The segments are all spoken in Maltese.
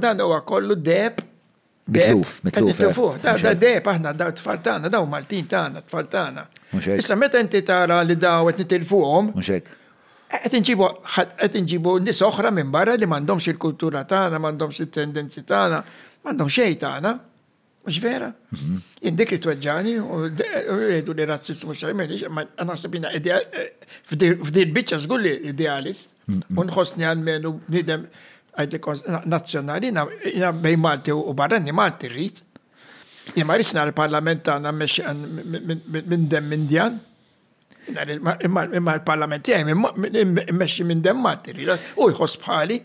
Dan huwa kollu deb. Mitluf, mitluf. Eh. Mitlufuh, da deb aħna da tfal tagħna, daw Maltin tagħna, tfal tagħna. Issa meta inti tara li daw qed nitilfuhom. Muxek. Qed inġibu qed inġibu nies oħra minn barra li m'għandhomx il-kultura tagħna, m'għandhomx it-tendenzi tagħna, m'għandhom xejn tagħna. Mux vera? Jien dik li tweġġani u jgħidu li razzist mux xajmeni, ma naħseb jina f'di bicċa zgur li idealist, unħosni għal-menu nidem għajdi nazjonali, jina bej Malti u barrani Malti rrit. Jien ma rritx nara parlament għana minn dem Indjan. Imma l-parlament jgħaj minn mexxi minn dem Malti, u jħoss bħali.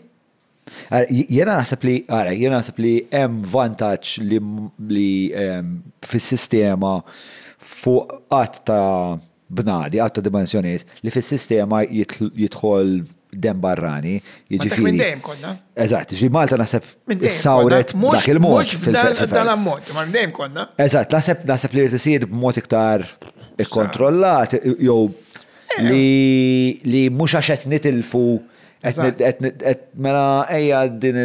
Jena naħseb li, għara, jena naħseb li hemm vantaġġ li ehm, fis-sistema fuq qatt ta' bnadi, qatt ta' dimensjoniet, li fis-sistema jidħol dem barrani. Jiġifieri. Minn dejjem konna. Eżatt, ġi Malta naħseb sawret dak il-mod. Dal-ammont, ma dejjem konna. Eżatt, naħseb naħseb li rtisir b'mod iktar ikkontrollat jew eh. li mhux għax qed nitilfu Mela ejja din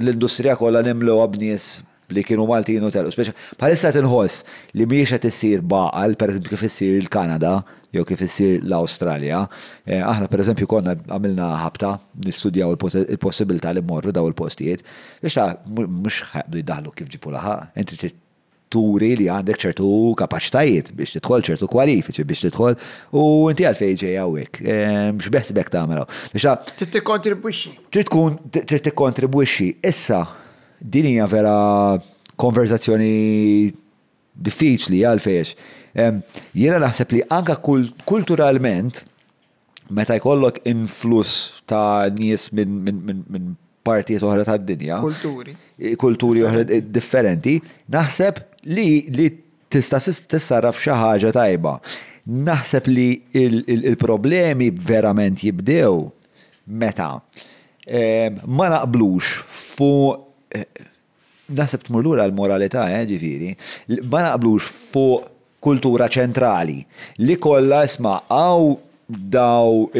l-industrija kollha nimlewha b'nies li kienu Maltin u telqu. Speċi bħalissa qed inħoss li mhijiex qed issir b'għaqal, pereżempju kif issir il-Kanada jew kif issir l-Awstralja. Aħna pereżempju konna għamilna ħabta nistudjaw il-possibilità li mmorru dawn il-postijiet. Issa mhux ħa jaqbdu jdaħħlu kif ġipu laħaq, inti trid turi li għandek ċertu kapaċitajiet biex tidħol, ċertu kwalifiċi biex tidħol, u inti għalfejn ġej hawnhekk. Ehm, x'beħsibek tagħmel hawn? Biex ta' Trid tikkontribwixxi. Trid tkun trid tikkontribwixxi. Issa din hija vera konverzazzjoni diffiċli għalfejn. Ehm, jiena naħseb li anka kulturalment meta jkollok influss ta' nies minn partijiet oħra tad-dinja. Kulturi. Kulturi oħra differenti, naħseb li li tista' tissarraf xi ħaġa tajba. Naħseb li il-problemi verament jibdew meta ma naqblux fuq Naħseb tmur lura l-moralità, eh, ġifieri, ma naqblux fuq kultura ċentrali li kollha isma' hawn daw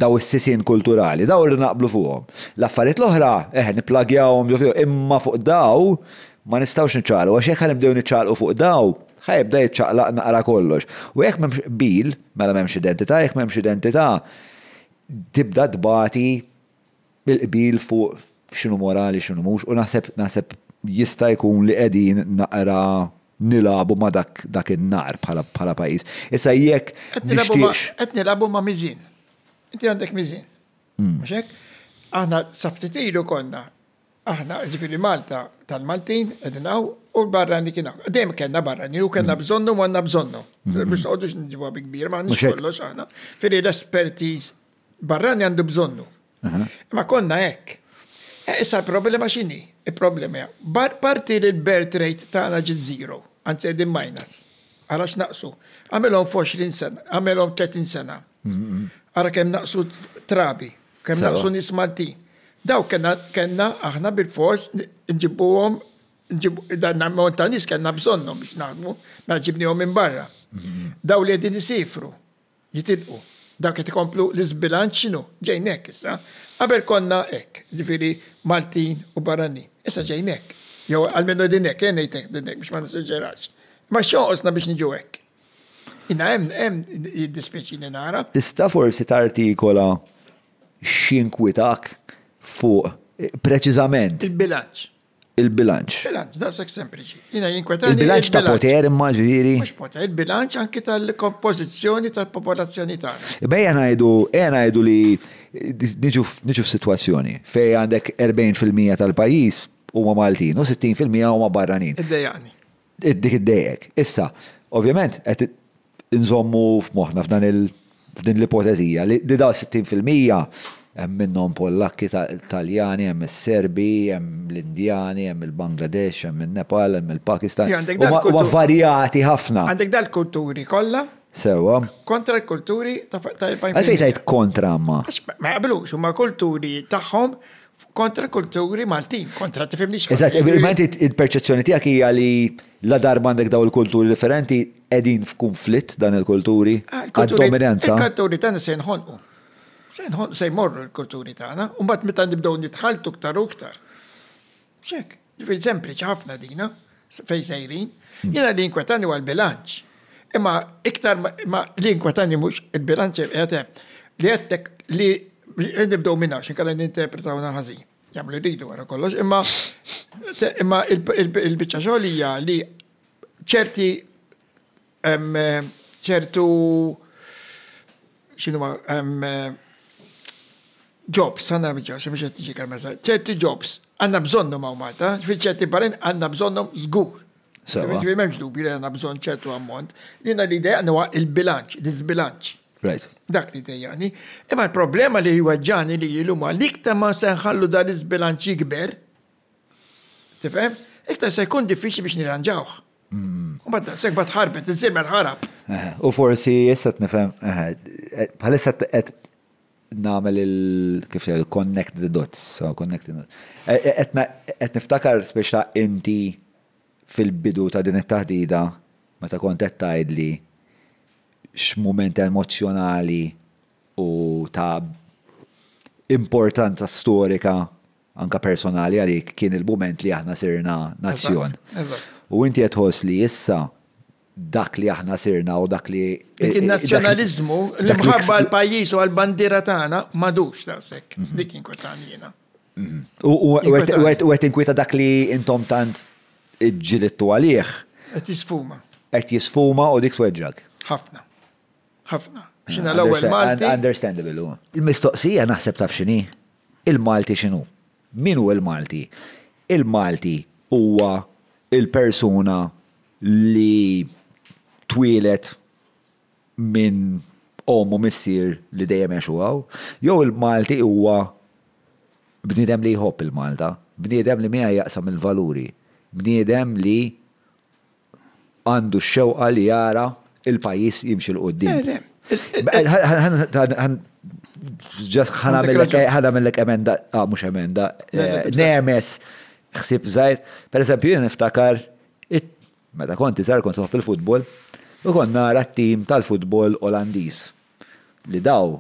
daw is-sisien kulturali, daw irridu naqblu fuqhom. L-affarijiet l-oħra, eħe, nipplagjawhom ġo fihom, imma fuq daw ma nistgħux niċċaqalqu għax jekk ħa nibdew niċċaqalqu fuq daw, ħa jibda jiċċaqlaq naqra kollox. U jekk m'hemmx qbil, mela m'hemmx identità, jekk m'hemmx identità, tibda tbati. il-qbil fuq x'inhu morali x'inhu mhux u naħseb naħseb jista' jkun li qegħdin naqra nilagħbu ma' dak dak in-nar bħala bħala pajjiż. Issa jekk nixtieqx Qed nilagħbu ma' miżien. Inti għandek miżien. Mhux hekk? Aħna sa ftit ilu konna aħna jiġifieri Malta tal-Maltin qegħdin hawn u l-barrani kien hawn. Dejjem kellna barrani u kellna bżonnu u għandna bżonnu. Biex noqgħodux niġibuha bi kbir ma għandniex kollox aħna. Fieri l-espertiż barrani għandu bżonnu. Ma konna hekk. E, issa l-problema x'inhi? Il-problema parti li l-birth rate tagħna ġiet zero, anzi qegħdin minus. Ara x'naqsu. Għamilhom f'20 sena, għamilhom 30 sena. Ara kemm naqsu trabi, kemm naqsu nies Maltin. Daw kellna aħna bil-fors nġibuhom dan ammont ta' nies kellna bżonnhom biex naħdmu, ma ġibnihom minn barra. Daw li qegħdin isifru, jitilqu. Dawn qed ikomplu l-iżbilanċ x'inhu? Ġejn hekk issa. Qabel konna hekk, jiġifieri Maltin u barranin. Issa ġejn hekk. Jew almenu qegħdin hekk, ejja ngħid hekk, ngħid hekk biex ma nesaġerax. Imma x'jonqosna biex niġu hekk? Jiena hemm, hemm jiddispjaċini nara. Tista' forsi tartikola x'inkwitak fuq preċiżament? Il-bilanċ. il-bilanċ. Bilanċ, daqshekk sempliċi. Jiena jinkwetani. Il-bilanċ ta' poter imma ġifieri. Mhux poter, il-bilanċ anki tal-kompożizzjoni tal-popolazzjoni tagħna. Bejja ngħidu, ejja ngħidu li niġu f'sitwazzjoni fejn għandek 40% tal-pajjiż huma Maltin u 60% huma barranin. Iddejjaqni. Dik iddejjqek. Issa, ovvjament, qed inżommu f'moħħna f'dan il-, f'din l-ipotezija li dawn is-sittin fil-mija hemm minnhom Pollakki, Taljani, hemm is-Serbi, hemm l-Indjani, hemm il-Bangladesh, hemm in-Nepal, hemm il-Pakistan. Huma varjati ħafna. Għandek dal-kulturi kollha. Sewwa. Kontra l-kulturi ta' 40 fil-mija. Għalfejn tgħid kontra imma? Għax ma jaqblux, huma kulturi tagħhom kontra kulturi Maltin, kontra tifimniex. Eżatt, ma inti il-perċezzjoni tiegħek hija li la darba għandek daw il-kulturi differenti qegħdin f'kunflitt dan il-kulturi ah, għad-dominanza. Il-kulturi tagħna se nħonqu. Se nħonqu se jmorru l-kulturi tagħna, u mbagħad meta nibdew nitħaltu ktar u ktar. Xek. Ġifieri sempliċi ħafna dina, fejn sejrin. Jiena li jinkwetani huwa l-bilanċ. Imma iktar ma li jinkwetani mhux il-bilanċ qed hemm. Li għedtek li nibdew minn hawn x'inkella ninterpretawna ħażin. Jagħmlu li jridu wara kollox, imma imma il-biċċa xogħol hija li ċerti Hemm ċertu x'inhuma hemm jobs għandna biċċa xi mhux qed tiġi kalmeza. Ċerti jobs għandna bżonnhom hawn Malta, fi ċerti barrin għandna bżonnhom żgur. Sewa. Ġifieri m'hemmx dubju li għandna bżonn ċertu ammont. Jiena li dejjaqni huwa il-bilanċ, l-iżbilanċ. Right. Dak li dejjaqni. Imma l-problema li jweġġani li llum huwa li iktar ma se nħallu dan l-iżbilanċ jikber, tifhem? Iktar se jkun diffiċli biex nirranġawh. U bad daqshekk bad ħarbet, insiemel ħarab. U forsi issa nifhem, bħalissa qed nagħmel il kif connect the dots, so connecting the dots. Qed niftakar speċta inti fil-bidu ta' din it-taħdida meta kont qed tgħidli x'mument emozzjonali u ta' importanza storika anke personali għalik kien il-mument li aħna sirna nazzjon. U inti qed tħoss li issa dak li aħna sirna u dak li. Dik il-nazzjonaliżmu, l-imħabba għal-pajjiż u għal-bandiera tagħna m'għadux daqshekk. Mhm. Dik inkwetan jiena. Mhm. U qed inkwieta dak li intom tant ġilittu għalih. Qed jisfuma. Qed jisfuma u dik tweġġak. Ħafna. Ħafna. Xina l-ewwel Malti. Understandable. Il-mistoqsija naħseb taf x'inhi. Il-Malti x'inhu? Min hu l-Malti? Il-Malti huwa l-persuna li twieled minn omm u missier li dejjem għexu hawn, jew il-Malti huwa bniedem li jħobb il-Malta, bniedem li miegħi jaqsam il-valuri, bniedem li għandu x-xewqa li jara il-pajjiż jimxi l-qudiem. Ġas ħanamillek emenda, ah, mhux emenda, nemes ħsib żgħir. Per eżempju, jien niftakar meta konti żgħar kont nħobb il-futbol u kont nara t-tim tal-futbol Olandiż li daw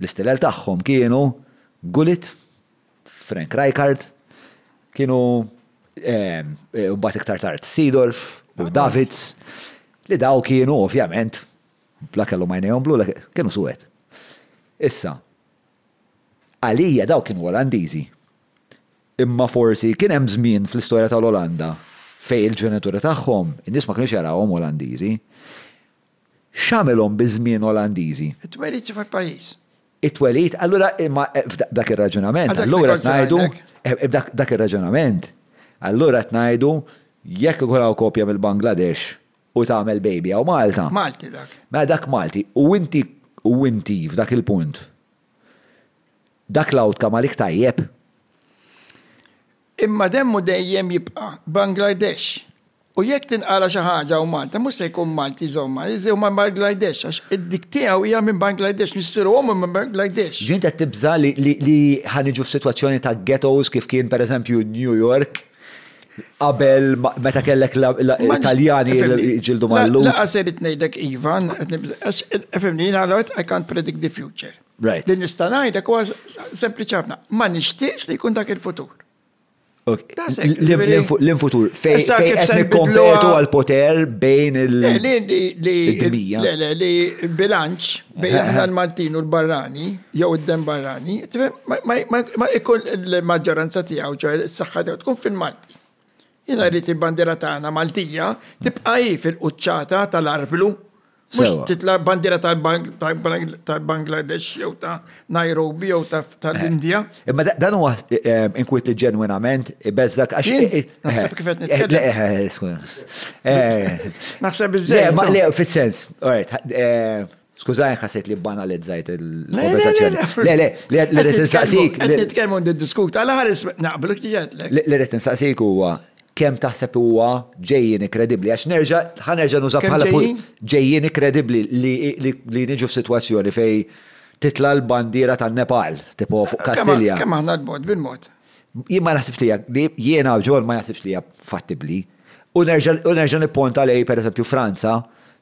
L-istilel tagħhom kienu Gullit, Frank Rijkaard, kienu mbagħad iktar tard Seedorf u Davids li dawn kienu ovvjament la kellhom għajnejhom blu la kienu suwed. Issa, għalija dawn kienu Olandiżi. Imma forsi kien hemm żmien fl-istorja tal-Olanda fejn il-ġenituri tagħhom in-nies ma kinux jarawhom Olandiżi. X'għamilhom biż-żmien Olandiżi? It-twelid xi fil-pajjiż? It-twelid, allura imma b'dak ir-raġunament, allura qed ngħidu, b'dak ir-raġunament, allura qed ngħidu jekk ikun hawn koppja mill-Bangladesh u tagħmel baby hawn Malta. Malti dak. Mela dak Malti. U inti, u inti f'dak il-punt, dak l-outcome għalik tajjeb? Imma demmu dejjem jibqa' Bangladesh. U jekk tinqala xi ħaġa u Malta, mhux se jkun Malti jżommha, se jkun Bangladesh għax id-dik tiegħu hija minn Bangladesh, missieru u ommu minn Bangladesh. Ġieli int qed tibża' li ħa niġu f'sitwazzjoni ta' ghettos kif kien pereżempju New York qabel meta kellek l-Taljani li jġildu mal-Lhud? Lanqas irrid ngħidlek iva, qed nibża'. Għax, fhimni, jiena l-għodd I can't predict the future. Right. Li nista' ngħidlek huwa sempliċi ħafna, ma nixtieqx li jkun dak il-futur. L-infutur fejn qed nikkompetu għal poter bejn il-dinija. Le, le, li bilanċ bejn aħna l-Maltin u l-barrani, jew id-dem barrani, ma jkun il-maġġoranza tiegħu ġo s-saħħa tiegħu tkun fil-Malti. Jiena rrid il-bandiera tagħna Maltija tibqa' hi fil-quċċata tal-arblu. Mhux titla' bandiera tal-Bangladesh jew ta' Nairobi jew tal-Indja. Eh, imma dan huwa eh, inkwit li ġenwinament ibeżżak għax. Eh, naħseb kif qed nitkellem. Naħseb iżżejjed. Ma le fis-sens, Skużani ħasejt li banalizzajt il-konversazzjoni. Le, le, le, le, rrit insaqsik. Nitkellmu diskut għal ħares naqblu ktiġetlek. Le, rrit insaqsik huwa kemm taħseb huwa ġejjin kredibbli għax nerġa' ħanerġa' nuża bħala ġejjin kredibbli li niġu f'sitwazzjoni fej titla' l-bandiera tan-Nepal, tipo fuq Kastilja. Kemm aħna l-mod bil-mod. Jien ma naħsibx li jiena ġol ma naħsibx li hija fattibbli. U nerġa' nipponta lejn pereżempju Franza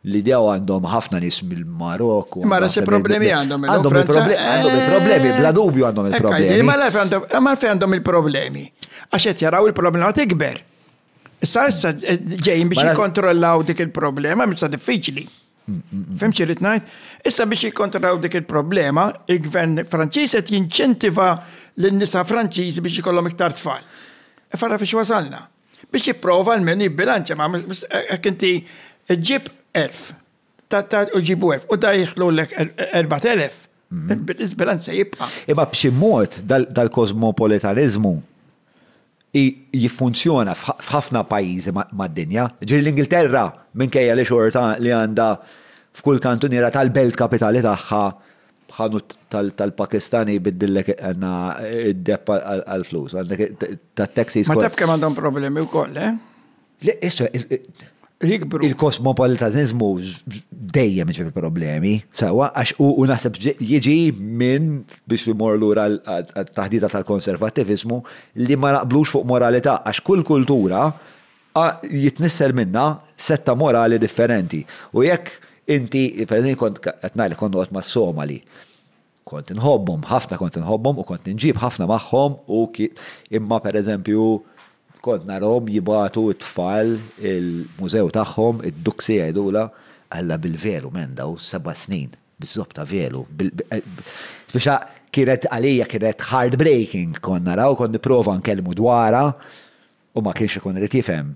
li dew għandhom ħafna nies mill-Marok. Ma nafx il-problemi għandhom. Għandhom il-problemi, bla dubju għandhom il-problemi. Ma nafx għandhom il-problemi. Għax qed jaraw il-problema tikber. Issa issa ġejjin biex jikkontrollaw dik il-problema, misa diffiċli. Fem xirrit najt? Issa biex jikontrollaw dik il-problema, il-gvern Franċiż qed jinċentiva l-nisa Franċiż biex jkollhom iktar tfal. Farra fiex wasalna. biex jipprova almenu jibbilanċja ma hekk inti ġib 1000 ta' u ġibu 1000 u da jidħlulek 4000 il-bilanċ se jibqa'. Imma b'xi mod dal-kosmopolitaniżmu jiffunzjona f'ħafna pajjiżi mad-dinja. Ġifieri l-Ingilterra minkejja li xorta li għandha f'kull kantuniera tal-belt kapitali tagħha b'ħanut tal-Pakistani jbiddillek għanna id-depp għal-flus, għandek tat-taxis. Ma taf kemm għandhom problemi wkoll, eh? Le, issa, jikbru. Il-kosmopolitanizmu dejjem ġifi problemi, sawa, għax u naħseb jiġi minn biex imor lura l-taħdita tal-konservativizmu li ma naqblux fuq moralità, għax kull kultura A, jitnissel minnha setta morali differenti. U jekk inti, per eżempju, kont, qed ngħidlek kont noqgħod mas-Somali. Kont inħobbhom, ħafna kont inħobbhom u kont inġib ħafna magħhom u imma per eżempju kont narahom jibagħtu t-tfal il-mużew tagħhom, id-duxi jgħidulha, Alla bil-velu men daw seba' snin, biż-żopp ta' velu, spiċċa kienet għalija kienet heartbreaking kont naraw, kont nipprova nkellmu dwarha u ma kienx ikun irid jifhem,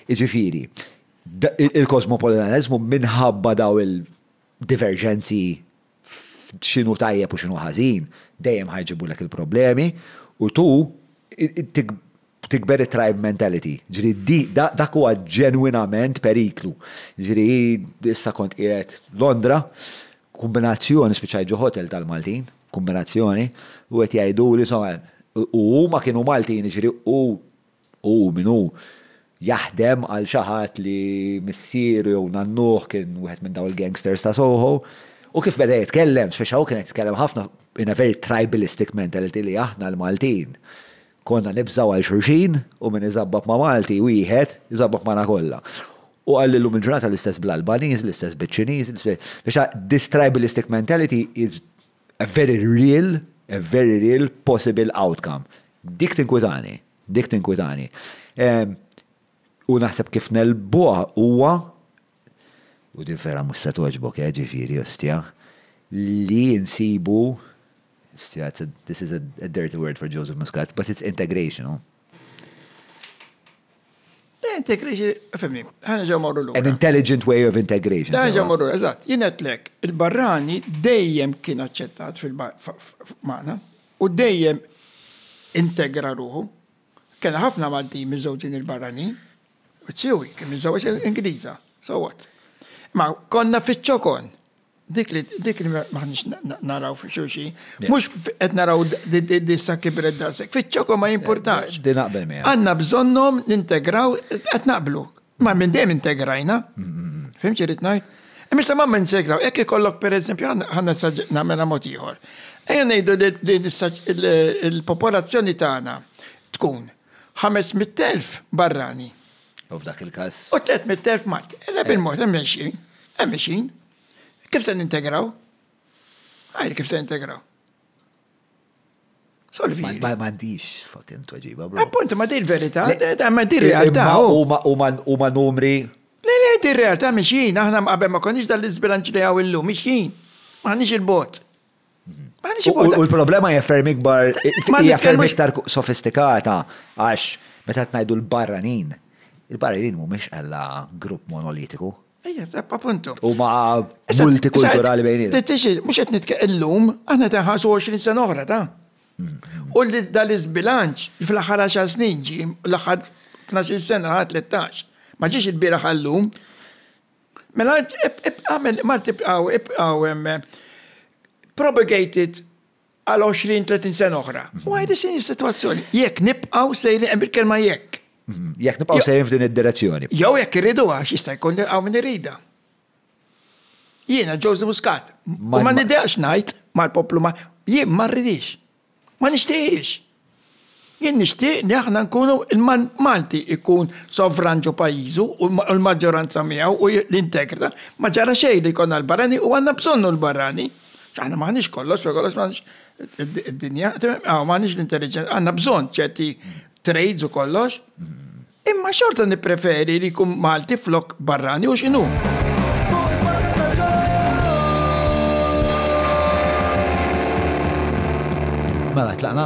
jiġifieri, il-kosmopolitaniżmu minħabba dawn il-diverġenzi f'x'inhu tajjeb u x'inhu ħażin, dejjem ħa jġibulek il-problemi, u tu tikber it-tribe mentality. Ġifieri dak huwa ġenwinament periklu. Ġifieri issa kont qiegħed Londra, Kumbinazzjoni, spiċċajt ġo hotel tal-Maltin, kumbinazzjoni, u qed jgħiduli, insomma, u huma kienu Maltin, jiġifieri hu, hu min hu, jaħdem għal xi ħadd li missieru jew nannuh kien wieħed minn dawn il-gangsters ta' Soho, u kif beda jitkellem, spiċċa hu kien qed jitkellem ħafna in a very tribalistic mentality li aħna l-Maltin Konna nibżgħu għal xulxin u min iżabbob ma' Malti wieħed, iżabbob magħna kollha. U qal li llum il-ġurnata l-istess bl-Albaniż, l-istess biċ-Ċiniż, biex this tribalistic mentality is a very real, a very real possible outcome. Dik tinkwitani, dik tinkwitani. U naħseb kif negħlbuha huwa u din vera mhux se togħġbok eh, ġifieri, ostja, li nsibu, ostja, this is a dirty word for Joseph Muscat, but it's integration, oh. Integration, fimni, ħana ġew morru l An intelligent way of integration. Ħana ġew morru, eżatt, jienet lek, il-barrani dejjem kien aċċettat fil-mana u dejjem integra ruħu. Kena ħafna Maltin miżewġin il-barrani, Ċiwi, kien miżżewġ Ingliża, so what? Ma konna fiċ-ċokon. Dik li dik li maħniex naraw fi xulxin, mhux qed naraw dissa kibret daqshekk, fiċ-ċokon ma jimpurtax. Din naqbel miegħek. Għandna bżonnhom nintegraw qed naqblu. Ma minn dejjem integrajna. Fimx irid ngħid? Imma ma minn segraw, jekk ikollok pereżempju ħanna nagħmilha mod ieħor. Ejja ngħidu li il-popolazzjoni tagħna tkun ħames mitt elf barrani. U f'dak il-każ. U tliet mitt elf Malti. Illa bil-mod hemm mexjin, hemm mexjin. Kif se nintegraw? Għajr kif se nintegraw? Solvi. Ma għandix fucking tweġiba, bro. Appunto, ma dir verita, ma dir realtà. U ma numri. Le, le, dir realtà mixin, aħna qabel ma konniex dal-izbilanċ li għaw illum, mixin. Ma għandix il-bot. U l-problema hija ferm ikbar, hija ferm iktar sofistikata għax meta tnajdu l-barranin, il-barranin mhumiex għalla grupp monolitiku. Ejja, appuntu. U ma' multikulturali bejni. Tittixi, mux qed nitkellem illum, aħna tenħasu 20 sena oħra ta'. U li dal iżbilanċ fl-aħħar 10 snin ġi l-aħħar 12 sena 13. Ma ġiex il-bieraħ għallum. Mela int għamel ma tibqgħu ibqgħu propagated għal 20-30 sena oħra. U għajdi sin is-sitwazzjoni. Jekk nibqgħu sejrin hemm il-kelma jekk. Mhm. Jekk nibqgħu sejrin f'din id-direzzjoni. Jew jekk irridu għax jista' jkun hawn min irida. Jiena Joseph Muscat. Ma niddeqx ngħid mal-poplu ma jien ma rridix. Ma nixtieqx. Jien nixtieq li aħna nkunu Malti jkun sovran ġo pajjiżu u l-maġġoranza miegħu u jintegra. Ma ġara xejn li jkollna l-barrani u għandna bżonnu l-barrani. Aħna m'aħniex kollox, fuq kollox m'aħniex id-dinja, m'aħniex l-intelliġenza, għandna bżonn ċerti trades u kollox. Imma xorta nippreferi li jkun Malti flok barrani u x'inhu. Mela tlaqna.